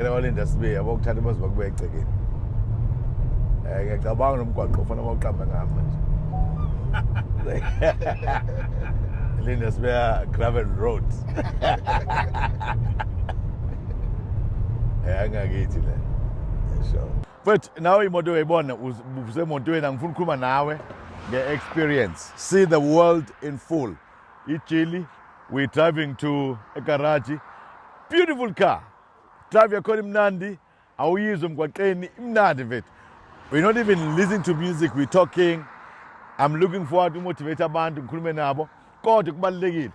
yena walinda sibe yabo kuthatha baze bakube egcekeni eh ngiyacabanga nomgwaqo ufana bawuqamba ngama nje linda sibe gravel road eh angakithi le sure but nawe imoto uyayibona usemotweni angifuni ukukhuluma nawe nge-experience see the world in full ijili we're driving to a garage beautiful car Drive yakhona imnandi awuyizwe emgwaqeni imnandi mfethu. We're not even listening to music, we're talking. I'm looking forward to motivate abantu ngikhulume nabo kodwa kubalulekile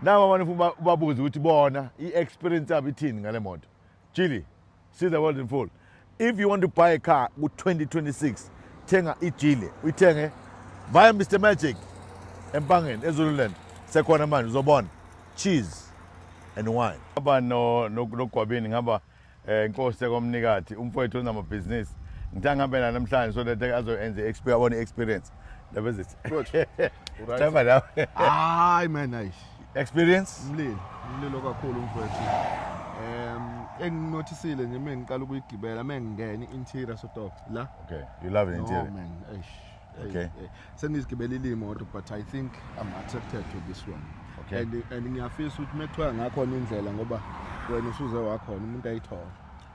nabo abantu funa ubabuze ukuthi bona i-experience yabo ithini ngale moto chili see the world in full If you want to buy a car ku 2026 thenga ijile uyithenge via Mr Magic empangeni eZululand sekhona manje uzobona cheese and wine aba no nogwabini ngaba eh, inkosi komnikati umfowethu onamabhizinisi ngithe ngihambe naye namhlanje so that azoyenza i-expe abone i-experience ndaba ezithi Good. Right. Clever nawe. Hayi man, hayi. experience umlilo umlilo kakhulu mfowethu um enginothisile nje uma ngiqala ukuyigibela uma ngingena i-interior sotof la okay you love the interior no, man eish okay sengizigibelile imoto but i think i'm attracted to this one okay and, and ngiyafisa ukuthi uma kuthiwa ngakhona indlela ngoba wena usuze wakhona umuntu ayithola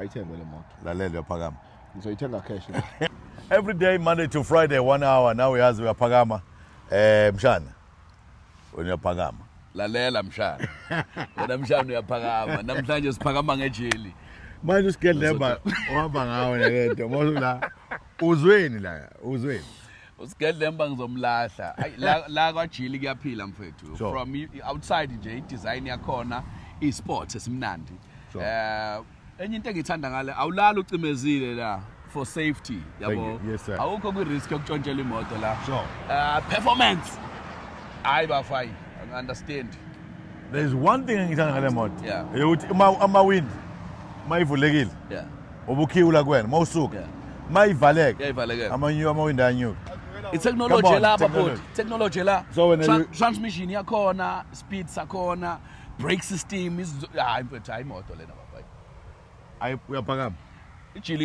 ayithengwe le moto lalela uyaphakama ngizoyithenga cash every day monday to friday one hour nawe uyazi uyaphakama eh mshana wena uyaphakama lalela mshana wena mshana uyaphakama namhlanje siphakama ngejeli manje usigedlemba ohamba ngawo nalento mosula uzweni la uzweni usigedlemba ngizomlahla la, la kwajili kuyaphila mfethu sure. from outside nje idesign yakhona isport esimnandi sure. uh, enye into engithanda ngale awulala ucimezile la for safety yabo yes, awukho kwi-risk yokutshontshela imoto la sure. uh, performance hayi bafine i understand there's one thing engithanda ngale moto yeah. eyokuthi ama-wind uma ivulekile yeah. ubukhiwula kuwena uma usuka Yeah. uma ivaleka Iyayivalekela. amanyu amawindi anyuka Come itechnology on, elapha technology. bhuti technology la So wena Tran- you- transmission yakhona speed sakhona brake system izinto- hayi mfethu hayi imoto lena baba Ayi, uyaphakama ijili